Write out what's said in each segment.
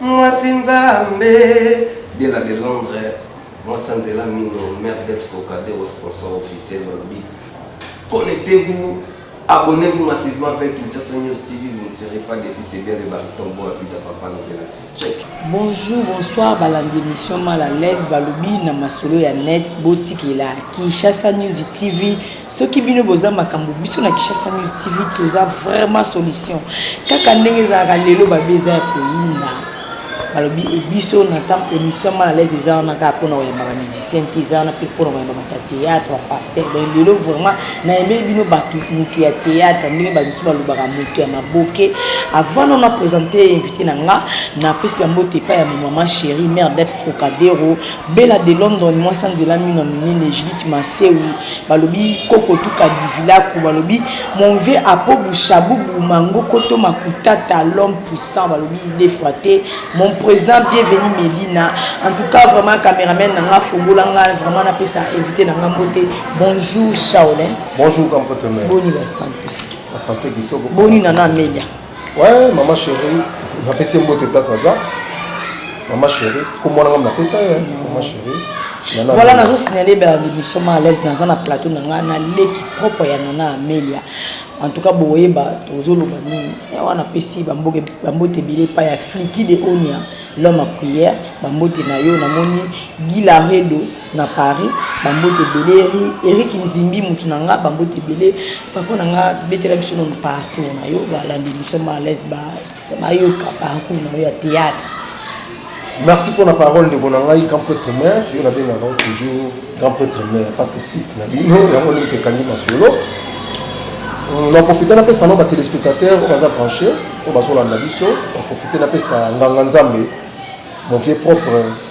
Mwasi nzambe de la de Londres mwasi anzela mino mère Debs Trocadero sponsor officiel balobi connectez-vous abonnez-vous massivement avec Kinshasa News TV vous ne serez pas déçus c'est bien le baryton boa vida papa novelas check Bonjour, bonsoir, balandi émission mal à l'aise, balobi na masolo ya net, botikela Kinshasa News TV, soki bino boza makambo biso na kishasa news tv toza vraiment solution kaka ndenge ezalaka lelo babi eza ya koyinda balobi e biso na ntango émission mal alaise eza wana kaka mpona koyamba bamusicien te eza wana mpe mpona koyamba bata théâtre bapaster donc lelo vraiment nayembeli bino bato motu ya théâtre ndenge bato mosusu balobaka motu ya maboke avant nano na présente invité na nga napesi bambote epai ya mamama chéri mère def trocadero Bella de London mwasi ya nzela mino minene Judith Masewu balobi koko tu kadivilaku balobi mon vieux Apo Bushabubu Mangokoto Makutata l'homme puissant balobi deux fois te mon president bienvenu Melina en tout cas vraiment cameraman na nga fongola nga vraiment napesa invité na nga mbote bonjour Shaolin Bonjour Kampote Mère boni ba santé ba santé kitoko boni nana Amelia Ouais, maman chérie, napesi mbote place aza. Maman chérie, kombo na ngai napesa ye, maman chérie. Nana voilà nazo signaler ba émission ma à l'aise naza na plateau na ngai na leki propre ya Nana Amelia. En tout cas boyeba tozoloba nini. Ya wana pesi ba mboke ba mbote bile pa ya Fliki de Onia l'homme à prière ba mbote na yo namoni Guy Laredo na paris ba mbote ebele eric nzimbi mutu na nga ba mbote ebele papa na nga betela biso nanu parcours na yo balandi biso ma alaise bayoka parcours na yo ya théâtre merci mpo na parole ndeko na ngai grand prêtre mare yo nabengaka toujours grand prêtre mare parce que site na bino yango ndenge tekangi masolo euh, na profite napesa no batelespectateur oyo baza branche oyo bazolanda biso na profite napesa nganga nzambe mon vieux propre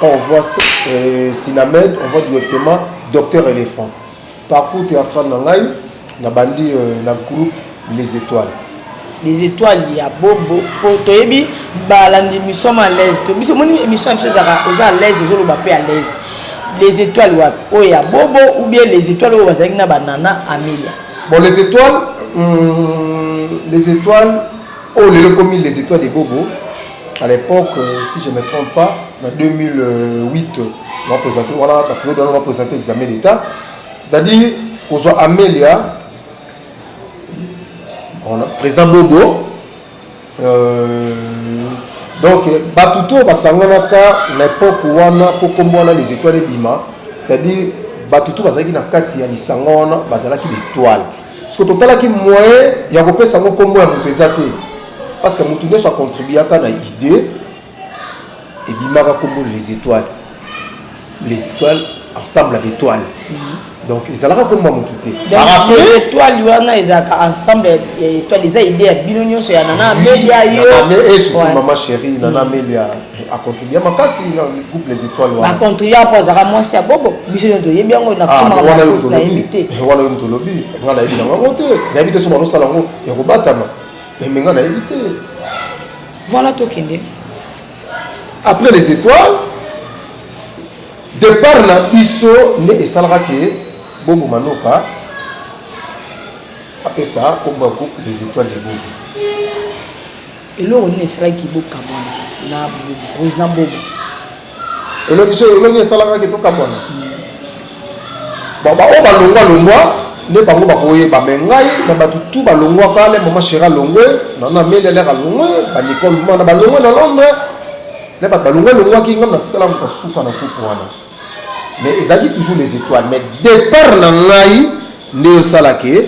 On voit euh, Silamed, on voit directement Docteur Elephant. Parcours théâtral na ngai na bandi euh, na groupe Les Étoiles. Les Étoiles ya Bobo po toyebi balandi mission à l'aise. To biso moni émission biso ezaka oza à l'aise ozo loba pe à l'aise. Les Étoiles wa o ya Bobo ou bien Les Étoiles o bazaki na banana Amelia. Bon Les Étoiles hum, Les Étoiles oh lelo komi Les Étoiles de Bobo à l'époque si je me trompe pas na 2008 ba présenter voilà la période on va présenter l'examen d'état c'est-à-dire qu'on soit Amelia on a président Bobo euh, donc bato to basanganaka na époque wana mpo nkombo wana les étoiles ebima c'est-à-dire bato to bazalaki na kati ya lisanga wana bazalaki betoile Siko totalaki moyen ya kopesa yango nkombo ya moto eza te parce que moto nyonso acontribuaka na idée ebimaka nkombo les étoiles les étoiles ensemble ya betoile mhm. donc ezalaka nkombo ya moto te étoile wana ezalaka ensemble ya étoile eza idée ya bino nyonso ya nana amelia yo mama chérie nana amelia A contribuer makasi na groupe les étoiles wana. Ba contribuer po azaka mwasi ya bobo. Biso nyo toyebi yango na kutuma ah, na poste na yebi te. Wana yo tolobi. Nga na yebi na ngo te. Na yebi te so balo sala ngo ya ko batama. Mais eh, nga na yebi te. Voilà to kende. Après les étoiles départ na biso ne esalaka ke bobo manoka apesa kombo ya groupe les étoiles de bobo Eloko nini esalaki bokabwana na president Bobo? Eloko so eloko esalaka ke tokabwana. Ba ba oyo balongwa longwa nde bango bakoyeba me ngai na bato tu balongwaka le mama shera longwe nana ameli aleka longwe banicole mana balongwe na londres le bato balongwe longwaki ngai natikala moto asuka na kuku wana Mais ezalaki toujours les etoiles mais depart na ngai nde osala ke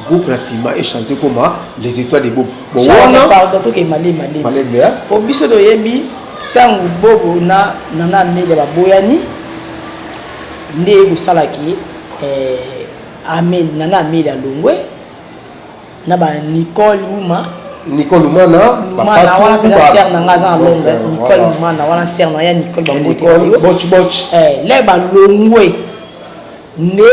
groupe na sima echange ekoma les etoiles de bobo bowanapardon tokei malemalelembe po biso toyebi ntango bobo na nana amele baboyani nde ekosalaki eh, amele nana amele alongwe na ba Nicole Uma Nicole Uma na ba Fatou wana pena sœur na nga za Londres Nicole Uma na wana sœur na ya Nicole ba Nicole botch botch eh le ba longwe ne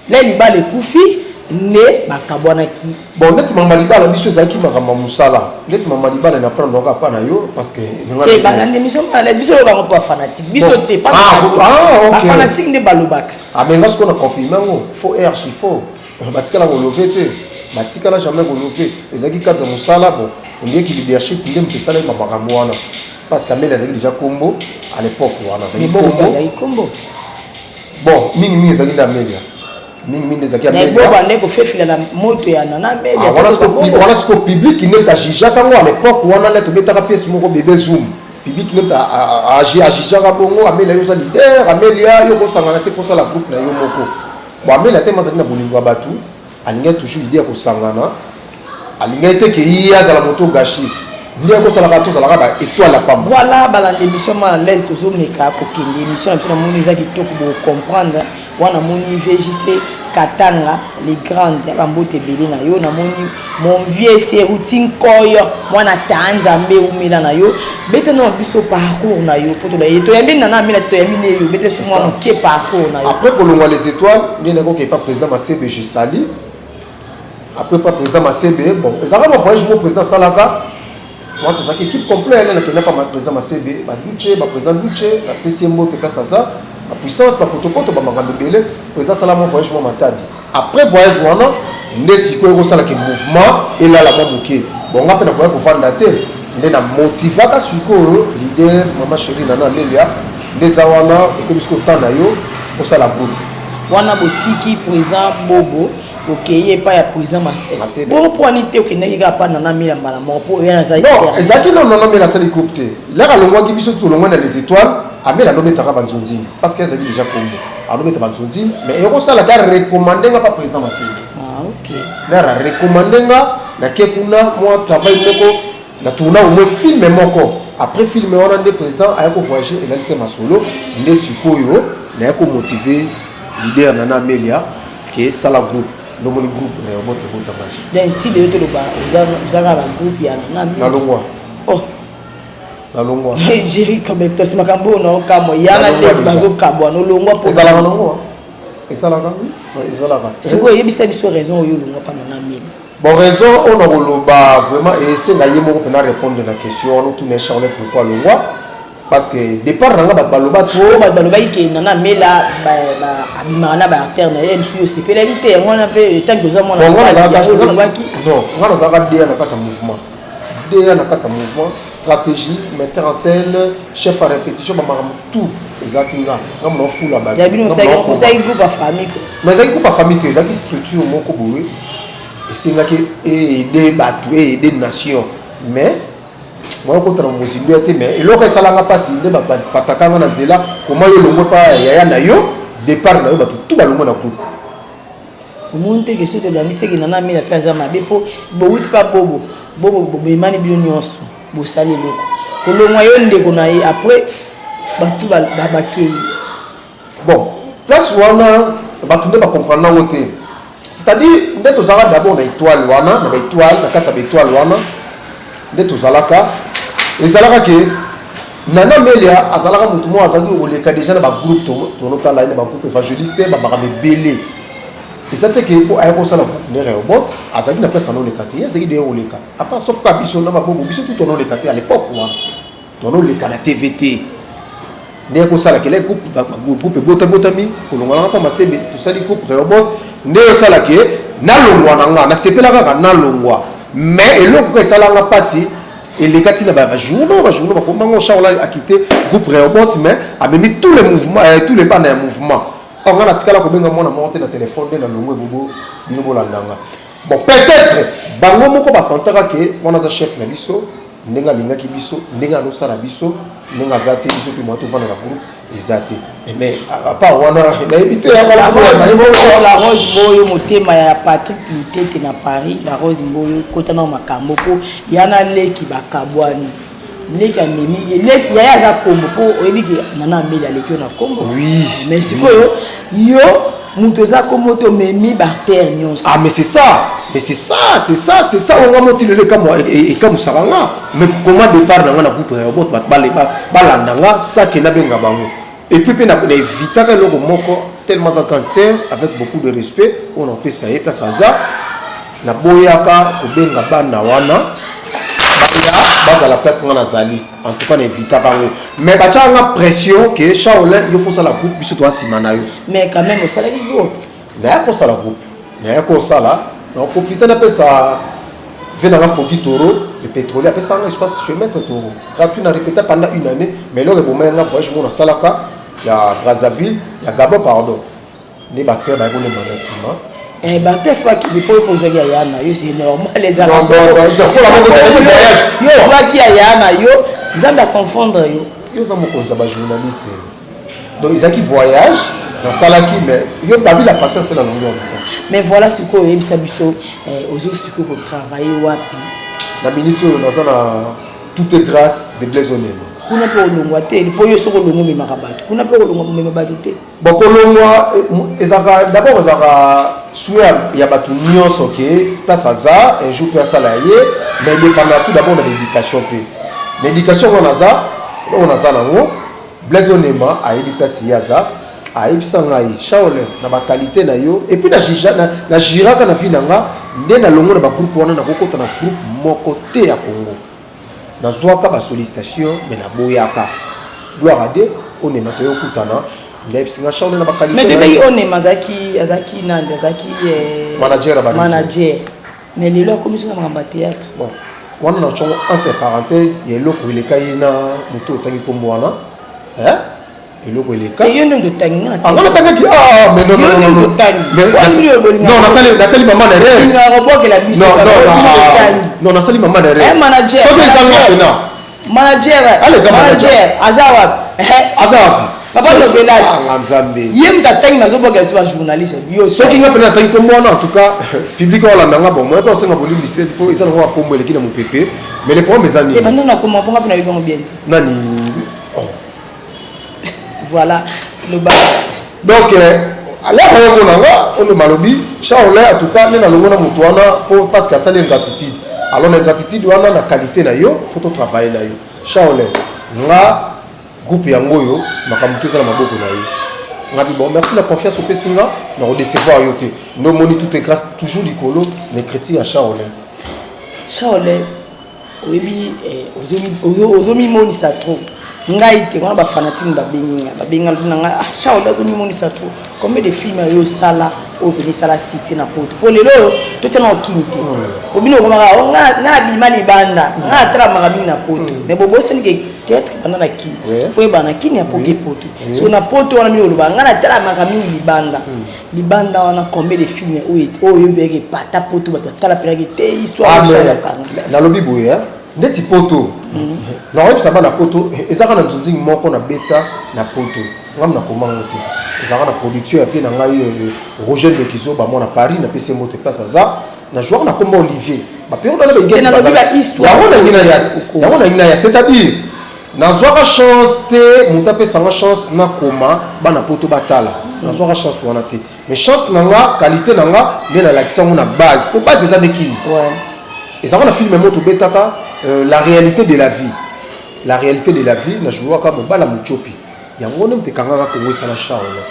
le libala ekufi nde bakabwanaki bon ndeti mama libala biso ezalaki makambo ya mosala ndeti mama libala na prendre yango apa na yo parce que te bana nde biso malaise biso oyo bango mpo bafanatique biso te bafanatique nde balobaka amenga sikoyo na confirme yango fo erchi fo batikala ko love te batikala jamais ko love ezalaki cadre mosala bon ondie ki leadership nde moto esalaki makambo wana parce que ameli azalaki déjà kombo à l'époque wana azalaki kombo bon mingi mingi ezalaki nde amelia mingi mingi ezalaki amelia nde kofefila na moto ya nana amelia ah, wana siko public nde tajijaka yango à l'époque wana nde tobetaka pièce moko bebe zoom public nde ajijaka bongo amelia yo oza leader amelia yo kosangana te kosala groupe na yo moko Moameli ata ye moko azali na bolingo ya bato, alingaki toujours idee ya kosangana, alingaki te que ye azala moto oyo gachi. Nde yango osalaka tozalaka ba etoiles ya pamba. Voilà balanda emission ma en l'aise tozo meka ko kende emission na biso na moni eza kitoko bo comprendre wana moni VJC Katanga les grandes ba mbote ebele na yo na moni Mon vieux Seruti Nkoyo mwana taa Nzambe umela na yo bete na biso parcours na yo poto ye to yambi nana amela to yambi ne yo bete biso mwana moke parcours na yo après kolongwa les étoiles ngai nakoki epa président Masebe je sali après pa président Masebe bon ezalaka ba voyage mo président asalaka Moi tozalaki équipe complet na nakenda pa président Masebe ba Duce ba président Duce na pesi mbote place aza ba puissance ba potopoto ba makambo ebele président sala mon voyage moi matadi après voyage wana nde sikoyo ekosala ke mouvement elala mwa moke bon nga mpe nakoya kovanda te nde na motivaka sikoyo leader mama chérie nana amelia nde eza wana ekomi sikoyo temps na yo osala groupe wana botiki président bobo okei epai ya président masese bongo mpo wani te okendaki kaka mpa nana mila mbala moko mpo oya naza non ezalaki no nana mila asali groupe te laka alongwaki biso tolongwa na les étoiles amela alobetaka banzonzini parce que ezalaki déjà kombo alobeta banzonzini mais ekosala ka recommande nga mpa président masese ah, lara recommande nga nake kuna mwa travail moko na tourna au moins filme moko après filme wana nde président aya kovoyage elalisi masolo nde sikoyo naya komotive leader nana amelia ke sala groupe lomoni groupe na yo moto ekota maji den ti leyo toloba ozaka na groupe ya nanga nalongwa oh nalongwa jeri cometos makambo oyo naokamwa yana nde bazokabwa nolongwa mpo ezalaka nalongwa esalaka ezalaka sikoyo oyebisa biso raison oyo olongwa mpa nanga mini bon raison oyo nakoloba vraiment esenga ye moko mpena répondre na question wana otuna charle pourquoi alongwa parce que départ na nga bato baloba trop bato balobaki ke nana mela abimaka na baartère na ye msu osepelaki te yango wana mpe etanki oza mwana nga nazalaka deya na kati ya mouvement deya na kati ya mouvement stratégie metteur en scène chef à répétition bamakambo tout ezalaki nga nga mona ofula batoozalaki groupe ya famille te mais ezalaki groupe ya famille te ezalaki structure moko boye esengaki eede bato eede nation mais moya okotana mozindo ya te mais eloko esalanga mpasi nde bapataka nga na nzela koma yo elongo epa yaya na yo départ na yo bato tu balongo na groupe omoni te kesio tolangiseki nana amela mpe aza mabe mpo bowuti mpa bobo bobo bomemani bino nyonso bosali eloko kolongwa yo ndeko na ye après bato bakei Bon place wana batu nde ba comprendre nango te c'est à dire nde tozalaka d'abord na etoile wana na ba etoile na kati ya ba etoile wana nde tozalaka ezalaka ke Nana Melia azalaka mutu moko azalaki koleka deja na ba groupe tolotala ye na ba groupe evangeliste ba makambo ebele eza te ke po aya kosala groupe ne reobot azalaki na place anoleka te ye azalaki deya koleka apa sauf ka biso na mabobo biso tu tonoleka te à l'époque wana Tono oleka na TV te. Nde kosala kele groupe groupe bota botami kolongolanga pa masebe tosali groupe Rehoboth nde osala ke nalongwa na nga nasepela kaka nalongwa mais eloko kaka esalanga mpasi eleka ntina bajournaux bajournaux bakoma ngo charles ali akite groupe reobot mais amemi tous les mouvement euh, tous les bana ya mouvement or nga natikala kobenga mwana moko te na telefone nde na longo ebobo bino bolandanga Bon peut etre bango moko ba sentaka ke wana aza chef na biso ndenge alingaki biso ndenge azo sala biso ndenge aza te biso pe moya tovanda na groupe eza te eh, mais apart wana nayebi te la rose mboyo motema ya patrick lutete na paris la rose mboyo kota nao makambo mpo yana leki bakabwani leki amemi ye leki yaya aza kombo mpo oyebi ke nana ameli aleki yo na kombo oui mais sikoyo yo moto eza kombo to memi bartere nyonso ah mais c'est ça mais c'est ça c'est ça c'est ça oyo nga moti lelo ekamusaka nga mais koma départ na nga na groupe na yobot bato balanda nga sake nabenga bango Et puis pe na na evitaka eloko moko tellement aza cancer avec beaucoup de respect oyo na kopesa ye place aza na boyaka kobenga bana wana bazala place nga nazali en tout cas na evitaka yango mais batyaka nga pression ke charolin yo fosala groupe biso toa nsima na yo mais quand même osalaki groupe Naya kosala groupe, naya kosala na profite na pesa vie nanga Fogi Toro le petrolier apesa nanga espace chez Maître Toro gratuit na répéta pendant une année mais lors eboma nga voyage mona salaka ya Brazzaville ya Gabon pardon nde bato baye kolemba na nsima Eh, bato efaki bipo ekozwaki yaya na yo se normal ezalayo ozwaki yaya na yo nzambe aconfondre yo yo oza mokonzi ya bajournaliste donc ezalaki voyage nasalaki mais yo parmi la patience c'est la longueur du temps mais voilà sikoyo oyebisa biso eh, ozo sikoyo kotravaille wapi na minute oyo naza na tout est grâce de blaise onema kuna mpe olongwa te mpo yo soki olongwa omemaka bato kuna mpe olongwa komema bato te bokolongwa eh, ezalaka dabord ezalaka sue ya bato nyonso ke place aza un jour mpe asala ya ye mais dépendant tout dabord na l'éducation mpe na éducation wana aza oyo naza nango Blaise Onema ayebi place ye aza ayebisa ngai Shaolin na ba qualité na yo et puis na jija na, na jiraka na vie na nga nde na longo na ba groupe wana na kokota na groupe moko te ya Congo na zwaka ba sollicitation mais na boyaka gloire à Dieu Onema to yokutana ndayebisa nga Shaolin na ba qualité mais depuis Onema azaki azaki nani azaki eh, manager manager mais lelo akomi so na makambo ya théâtre bon wana na congo entre parenthèse ya eloko eleka ye na moto otangi nkombo wana eloko elekanatangiaotangi nasali mama na renon nasali mama na resoki ezanga pena Manager, Aleka manager. manager, aza wapi? Ehe. aza wapi Papa Soki- Lobelas. Ah, nga nzambe Ye mutu atangi nazo boka yesu ba journaliste. Yo soki nga mpena atangi kombo wana en tout cas public aolanda nga bon moya mpe osenga bolimbisi te mpo eza nango akombo eleki na mopepe mais le problème eza te nini banda na koma ponga pe na yokango bien te. nani Voilà, le bas. Donc, alaka euh, yango nanga oyo malobi charle en tout cas nde nalongo na moto wana po parce que asali ingratitude alors na ingratitude wana na qualité na yo faut totravaille na yo charle nga groupe yango oyo makambo to eza na maboko na yo ngabi bon merci na confiance opesi nga na kodecevoir yo te nde omoni tout est grâce toujours likolo na écriture ya charle charle oyebi eh, ozomimonisa trop ngai te wana bafanatine babengi nga babenga lobi na ngai ah, charles azomimonisa trop combien de filme oyo osala oyo pene esala cité na poto mpo lelo oyo totya na okimi te po bino okomaka oh, nga abima libanda nga atalamaka mingi na poto mm. mais bobosani ke teatre banda na kini fo yebana kini apoki poto so na poto wana bino oloba nga natalamaka mingi libanda mm. libanda wana combien de filme oyo oyo oyebaki epata poto bato batala mpenaki te histoirenalobi ah, boye ndeti poto mhm. nakoyebisa bana poto eh, ezaka na nzunzingi moko na beta na poto ngambo nakoma yango te ezalaka na production ya vie na ngai oyo euh, roger ndokizo bamwa na paris napesi ye moto place aza na joueur nakoma olivier bapeoda na baigeti yango nangi na ya c'est-à-dire Nazwaka chance te moto apesa nga chance nakoma bana poto batala, nazwaka chance wana te. Mais chance na nga qualité na nga nde nalakisa yango na base, mpo base eza nde kini. Ezalaka na filme moko tobetaka euh, la réalité de la vie, la réalité de la vie na jouaka mobala motiopi yango nde moto ekangaka kongo esala charle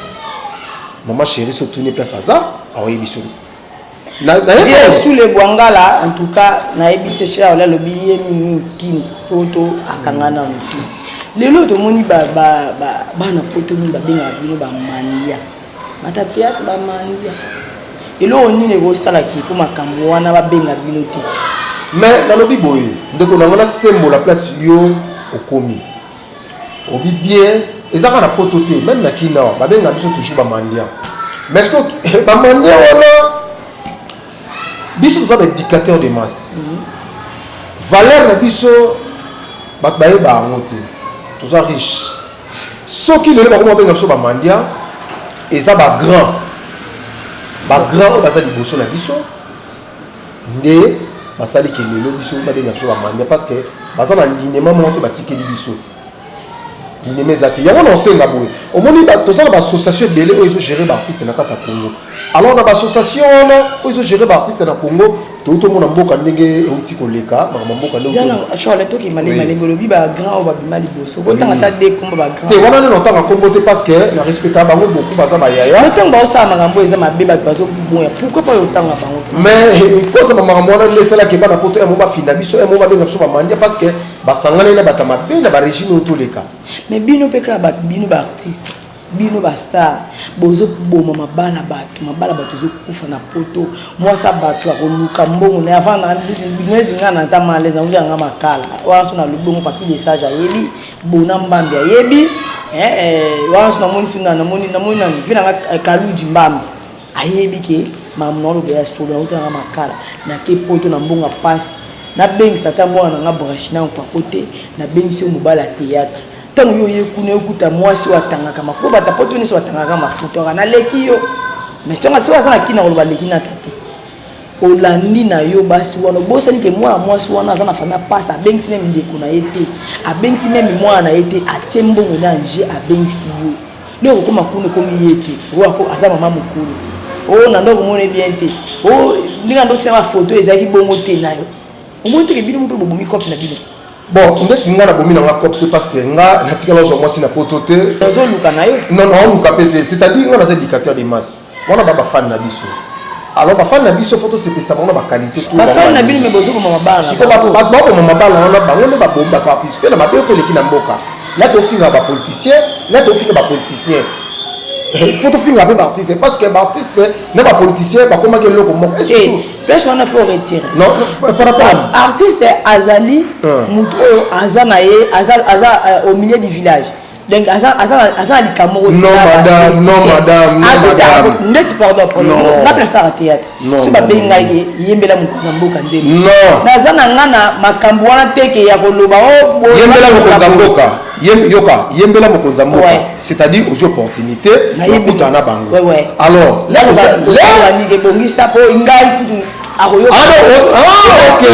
mama chéri sotuni place aza aoyebi soni sule bwangala en tout cas nayebi te shera ola alobi ye mingi kini poto akanga na motu lelo tomoni bana poto mingi babengaka bino bamandia bata théâtre bamandia eloko nini ekosalaki mpo makambo wana babenga bino te mais nalobi boye ndeko nango nasembola place yo okomi obi bien eza kaka na poto te meme na kina babenga biso toujours bamandia mais ce que bamandia wana biso toza baéducateur de masse mhm. valeur na biso bato bayeba yango te toza riche soki lelo bakoma babenga biso bamandia eza bagrand bagrand oyo baza liboso na biso nde basali ke lelo biso babenga biso bamania parce que baza na linema moko te batikeli biso linema eza te yango na osenga boye omoni toza na baassociation ebele oyo ezogere baartiste na kati ya congo alors na baassociation wana oyo ezogere baartiste na congo toyei tomona mboka ndenge euti koleka makambo mboka ndenge okotanga ata de kombo bagrand te wana nde notanga kombo te parce que na respecta bango beaucoup baza bayaya ntango baosala makambo eza mabe bato bazoboya pourkoi mpo otanga bango mais eh, kozama makambo wana nde esalaki bana poto yango bafinda biso yango babenga biso bamandia parce que basangani na bato mabe na barégime oyo toleka mais bino mpe kaka bato bino baartiste Bino ba star bozo boma mabala batu mabala batu ezo kufa na poto mwasi ya batu akoluka mbongo na avant na neti nga na ta malaise na wuya nga makala wana so na lubongo papi de sage ayebi bona mbambi ayebi eh, eh, wana so namoni fina namoni namoni nani fina nga eh, kaludi mbambi ayebi ke mamu na lobe ya solo na wuya nga makala na ke poto na mbongo ya pasi nabengisa ata mwana na nga brashina nkwako te nabengisi yo mobala ya théâtre ntango yo oye kuna okuta mwasi oyo atangaka mafuta po bata poto nyonso batangaka mafuta oka naleki yo mais tonga soki aza na kina koloba aleki na tete olandi na yo basi wana obosani ke mwana mwasi wana aza na fami apasa abengisi meme ndeko na ye te abengisi meme mwana na ye te atie mbongo na anje abengisi yo nde okokoma kuna ekomi ye te oyo aza mama mokolo oyo oh, na nde okomona ye bien te oyo oh, ndenge na ndotina bafoto ezalaki bongo te nayo omoni teke bino mpe bobomi cope na bino Bon ndeti nga na bomi na nga cop te parce que nga natikala ozwa mwasi na poto te ozoluka na yo non non oluka pe te c'est à dire nga naza éducateur de masse wana ba bafani na biso alors bafani na biso fo tosepesa bango na baqualité bafani na bino me bozokoma mabala baboma mabala wana bango nde babomi baparticipe na mabe oyo eleki na mboka na tofinga bapoliticien na tofinga bapoliticien eh, fo tofinga mpe baartiste parce que baartiste na bapoliticien bakomaki eloko moko eh, place wana faut retirer euh, artiste azali moto oyo aza na ye aza euh, au milieu du village donc aza na likambo ndeti pardon baplaceaka théâtre so babengi ngai ye yembela mokonzi ya mboka nzembo naza na ngai na makambo wana teke ya koloba oh, yembela mokonzi ya mboka Yem, yoka yembela mokonzi ya mboka Ouais. c'est-à-dire ozwi opportunité Nayebi. okutana na bango Ouais, ouais. alors là, lelo oza- lelo- balingi ebongisa mpo ngai kutu akoyoka Ah non, oh, ah, ok.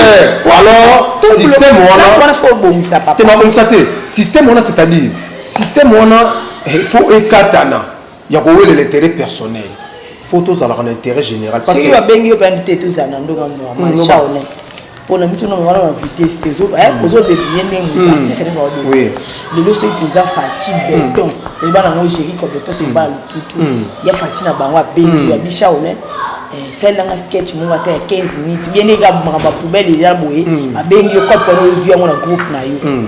Po- Alors, tout le- système wana- place wana fo obongisa te papa babongisa te système wana c'est-à-dire système wana eh, faut ekatana ya kowelela intérêt personnel faut tozalaka na intérêt général parce que babengi yo pe andi te tozala na ndoka normal mm, chaone pona biso na ngana na vitesse te zo eh mm. ozo débrouiller ndenge mm. artiste ne va débrouiller lelo soki toza faci beton eba na ngo géri ko beton c'est pas tout tout ya faci na bango abengi ya bichaone eh, salelanga sketch moko ata ya 15 minutes bien ega makambo ya poubele eza boye abengi yo kopo wana ozwi yango na groupe na yo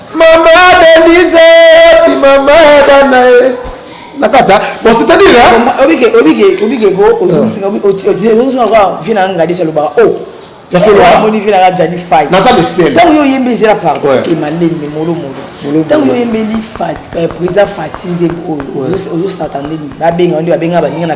Maman Denise, puis maman Dana. nakata bon c'est à dire obike obike obike ko ozongisaka ozongisaka kwa vie na ngadi se lobaka o yasoloamoni vie nanga jani fai naza lesel ntango yo oyembi ezela pardon emalembe molomolo ntango yo oyembeli président fati nzembo oyo ozosatandeni babenga nde babenga baninga na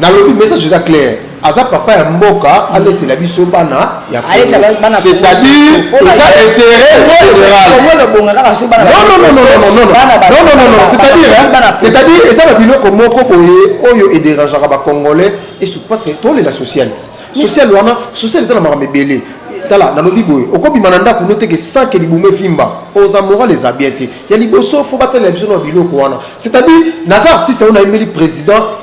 nalobi message eza clair aza papa ya mboka alesela biso bana ya c'est-à-dire eza intérêt généralcest-à-dire eza na biloko moko boye oyo ederangeaka bacongolais esu parce que tolela social social wana social eza na makambo ebele tala nalobi boye okobima na ndako noteke sanke libumu evimba oza moral eza bien te ya liboso fo batalela biso na biloko wana c'est-à-dire naza artiste yango nayembeli président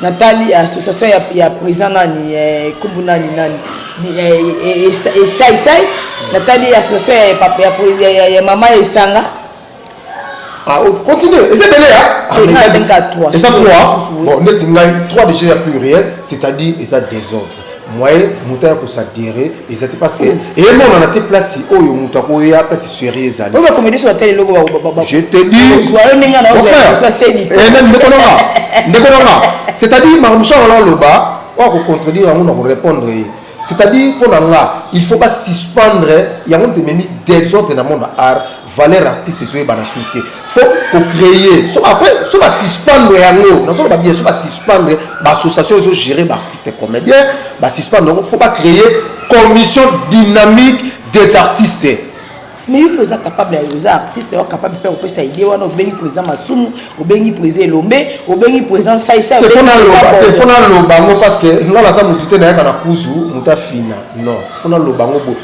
Natali association ya, ya president nani eh, kombo nani nani eh, eh, esai sai natali association ya, papa, ya, ya, ya, ya mama ya esanga ah, oh, continue eza ebele ya eza 3 bon neti ngai 3 déjà ya pluriel c'est-à-dire eza désordre moyen moto aya kosadere eza te parce que emonana te place oyo moto akoya place serie ezali oyo bakomedisi bata eloko je te disndeko nanga ndeko nanga c'est-à-dire makambo sha wana aloba oyo kocontredire yango na korépondre ye c'est-à-dire mpo na nga il faut basuspendre yango ntememi desordre na monde art valeur artiste ezoyebana sur te fo kocreye so après so basuspendre yango nazoloba bien so basuspendre baassociation ezogere baartiste comédien basuspendre yango fo bacreye commission dynamique des artistes mais yo mpe oza capable ya oza artiste yo capable mpe kopesa idée wana obengi président masumu obengi président elombe obengi président saisaiefona aloba yango parce que nga naza motu te nayaka na kuzu motu afina non fona aloba yango boye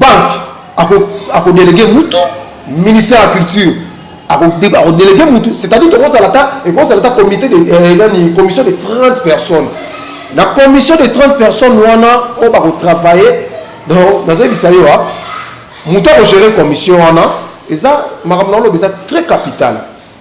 banque ako ako déléguer mutu ministère ya culture ako déléguer mutu c'est-à-dire tokozala ta ekozala ta comité de euh, nani commission de 30 personnes na commission de 30 personnes wana oyo bako travailler donc nazoyebisa yo a mutu ako gérer commission wana eza makambo na oloba eza très capital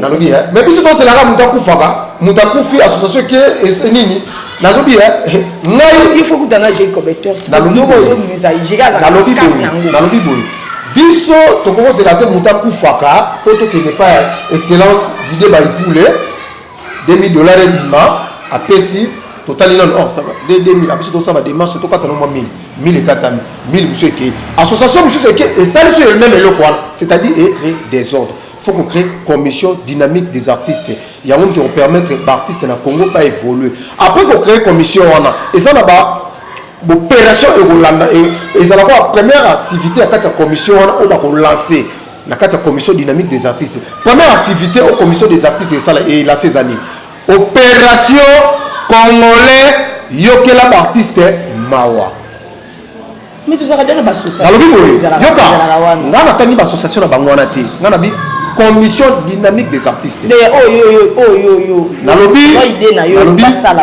nalobi eh, mais biso tozelaka moto akufaka moto akufi association ke eh, nini nalobi eh, nayinalobi boye biso tokokozela te moto akufaka mpo tokende pa excellence dide baipule 2000 dollars ebima apesi totali nano oh, ça va 2000 apesi tosala démarche tokata no mwa 1000 1000 ekatami 1000 mosusu ekei association mosusu eke esali so elmeme eloko wana c'est-à-dire ecrée désordre faut ko créer commission dynamique des artistes yango moto ekopermettre baartiste na congo baévolue après ko créer commission wana eza na ba bopération ekolanda ezalaka première activité ya kati ya commission wana oyo bakolancer na kati ya commission dynamique des artistes première activité au commission des artistes esala elase eza nini opération congolais yokela baartiste mawa balobi boye yoka ngai natangi baassociation na bango wana te ngai nabi commission dynamique des artistes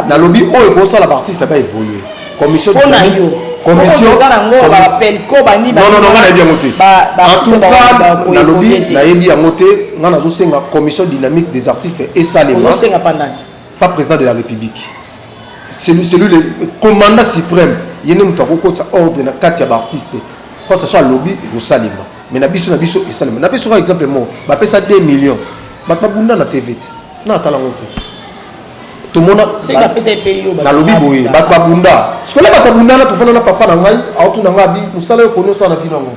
nalobi oyo ekosala baartiste baevolue commission mpo na yo commission oza na ngo ba pelco ba ni ba non non nga nayebi yango te en tout cas nalobi nayebi yango te nga nazosenga commission dynamique des artistes esalema ozosenga pa nani pas président de la république celui celui le commandant suprême ye nde moto akokotisa ordre na kati ya baartiste mpo saso alobi ekosalema mais na biso na biso esalema napesi kaka exemple moko bapesa 2 millions bato babunda na tv te na tala ngo te tomona nalobi boye bato babunda sikola bato babunda na tofanda na papa na ngai aotuna ngai abi mosala yo koni osala na bino yango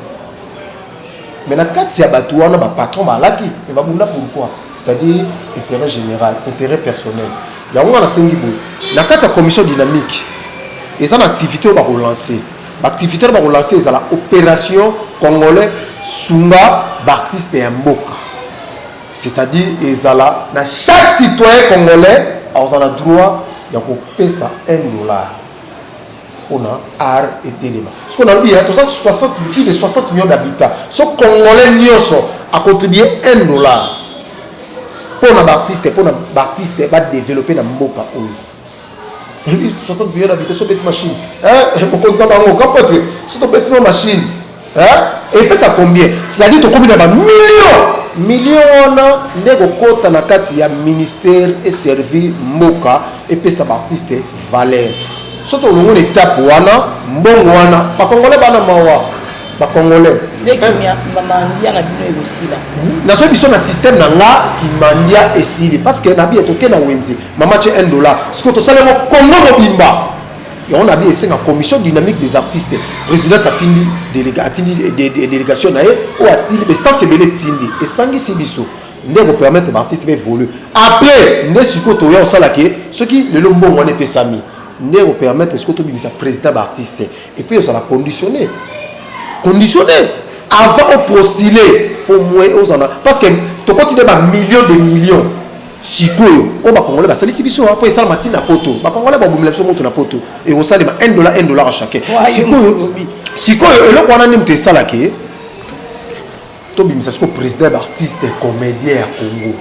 mais na kati ya bato wana bapatron balaki e babunda pourquoi c'est-à-dire intérêt général intérêt personnel yango nga nasengi boye na kati ya commission dynamique eza na activité oyo bakolancer baactivité oyo bakolancer ezala opération congolais sunga baartiste ya mboka c'est-à-dire ezala na chaque citoyen congolais aza na droit ya kopesa 1 dollar mpona art etelema soki nalobi ya toza 60 plus de 60 millions d'habitat so congolais nyonso acontribue 1 dollar mpo na baartiste mpo na baartiste badeveloppe na mboka oyo Ebi 60 millions d'habitants so beti machine. Eh, mokonzi na bango kapote. So to beti na machine. Eh, epesa combien? C'est-à-dire to komi na ba millions. Millions wana nde kokota na kati ya ministère et servir mboka epesa ba artistes valeur. So to longo na étape wana, mbongo wana, ba congolais bana mawa. Ba congolais. Dès que mia mandia na bino ekosila. Na so biso na système na nga ki mandia esili parce que na bi etoke na wenze. Maman ce un dollar. Ce que tu sais, le Congo mobimba. Et on a bien c'est la commission dynamique des artistes. Président Satindi, déléga, Atindi, dé, dé, délégation nae, ou Atindi, mais ça c'est belé Tindi. Et Sangi Sibiso. nde ekopermettre baartiste mpe évolue après nde sikoyo toya osala ke soki lelo mbongo wana epesami nde ekopermettre sikoyo tobimisa président baartiste epuis ozala conditionné conditionné avant oprostile fo moye ozala parce que tokoti nde bamillion de millions Sikoyo oyo ba congolais basalisi biso po esalama ti na poto ba congolais babomela biso moto na poto ekosalema 1 dollar 1 dollar à chacun sikoyo sikoyo eloko wana nde moto esalaka tobimisa sikoyo président ya baartiste comédien ya congo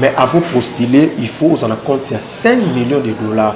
mais avant postuler il faut ozala compte ya 5 millions de dollars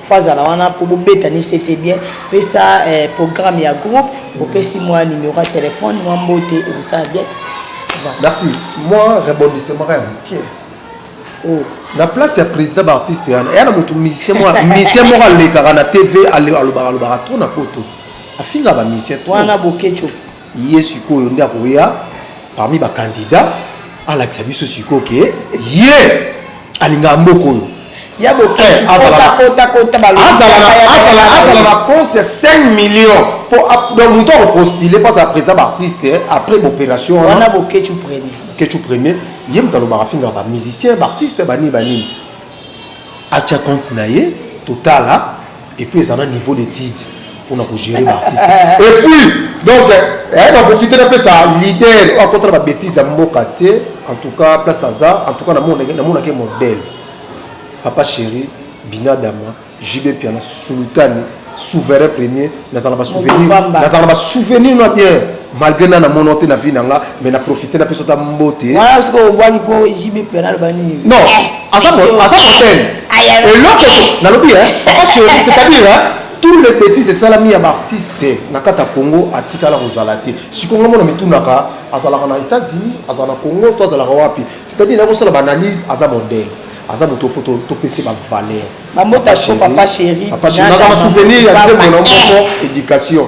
faut azala wana mpo bobetani sete bien pesa eh, programme ya groupe opesi mwa numero ya telefone mwa mbote ekosala bien merci mwa rebondissement ya moke oh. na place ya président baartiste yana eya na moto musicien musicien moko alekaka na tv alobaka alobaka trop na poto afinga bamisien wana bokeco ye sikoyo nde akoya parmi ba candidat alakisa biso sikoyo ke ye alingaka mboka oyo ya bokeazala na compte ya 5 million po donc moto akopostile mpo azala président baartiste après baopération wana bokecu premier kecu premier ye moto alobaka afingaka bamusicien baartiste banini banini atya compte na ye totala et puis eza na niveau d'étude pona ko gérer ba artiste et puis donc eh, na profite napesa leader oyo akotala ba bêtise ya mboka te en tout cas place aza en tout cas namonake modèle papa chéri binadama jb piana sultani souverain premier nazala basouvenir nazala basouvenir na bien malgre na namona te na vie na nga mais na profite napesa ta mbote wana sikoyo obwaki mpo jb pena aloba nini non aza modèle eloko nalobi papa chéri c'est-à-dire tous les bêtises esalami ya baartiste na kati ya congo atikala kozala te sikoyo nga mona mitunaka azalaka na états-unis azala na congo to azalaka wapi c'est-à-dire nakosala baanalyse aza modèle aza moto fo topesi bavaleur naza masouvenir ya nzembo na moko éducation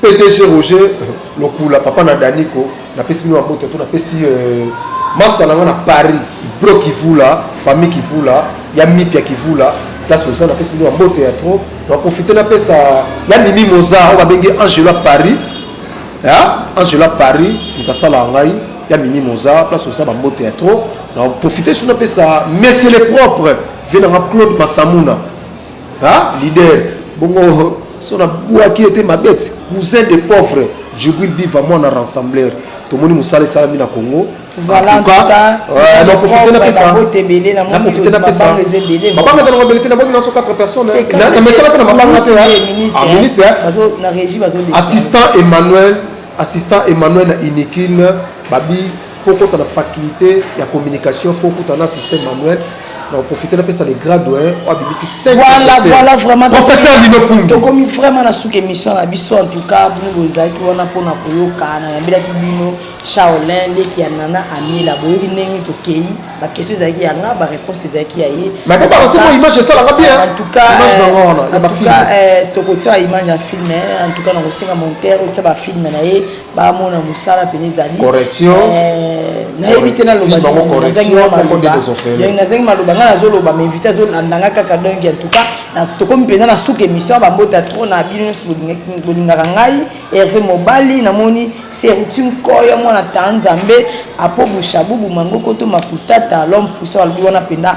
PDG Roger Lokula, papa na Daniko, napesi bino mabota to napesi euh, masta na nga na Paris, Ibro Kivula, famille Kivula, ya Mipia Kivula, place oza napesi bino mabota ya trop. Na profite napesa ya Mimi Moza oyo babengi Angela Paris. Ya Angela Paris, mutasala ngai ya Mimi Moza, place oza bambote ya trop. Na profite suna pesa Monsieur le propre, vie na nga Claude Masamuna. ah leader bongo so na bwaki ete mabeti cousin de pauvre jugui biva mwana rassembler tomoni mosala esalami na congo naprofite napesa mabanga eza nango ebele te nabongi naso 4 personnes na mesala mpe na mabanga te minute assistant emmanuel assistant emmanuel na inikine babi Mpo okota na faculté ya communication fo okuta na système manuel na oprofite napesa le grand doyen oyo abimisi professeur lino pungi tokomi vraiment na suka émission na biso en tout cas bino bozalaki wana mpona koyoka nayambelaki bino charlin leki ya nana amila boyoki ndenge tokei baquestion ezalaki ya nga baréponse ezalaki ya ye image esalaka bien en tout cas euh, euh, tokotia image ya film en tout cas nakosenga montere otia bafilme na ye bamona mosala mpena ezali nayebi te nalobazangi maloba ngai nazoloba mainvite azolanda ngai kaka donc en tout cas tokomi mpenza na suka émission bambota trop na bino nyonso bolingaka ngai herve mobali namoni serutim koya mwana ta nzambe apo bushabubu mangokoto makutata lhomme pusa balobi wana mpenza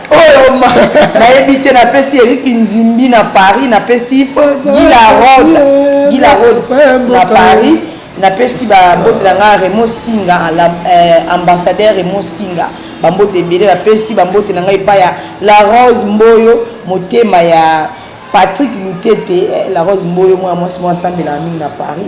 oyo nayebi te napesi erik nzimbi na paris napesi gilarod gilarod na paris napesi bambote na ngai remo singa eh, ambassadeur remo singa bambote ebele napesi bambote na ngai epai ya la rose mboyo motema ya patrick lutete eh, la rose mboyo mwana mwasi mwa asambelaka mingi na paris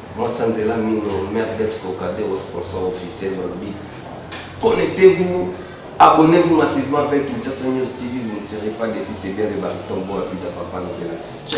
Mwasa nzela mino mère Debs Trocadero sponsor officiel balobi connectez vous abonnez vous massivement avec Kinshasa News TV vous ne serez pas deçu c'est bien le baryton Boa Vida papa Novelas.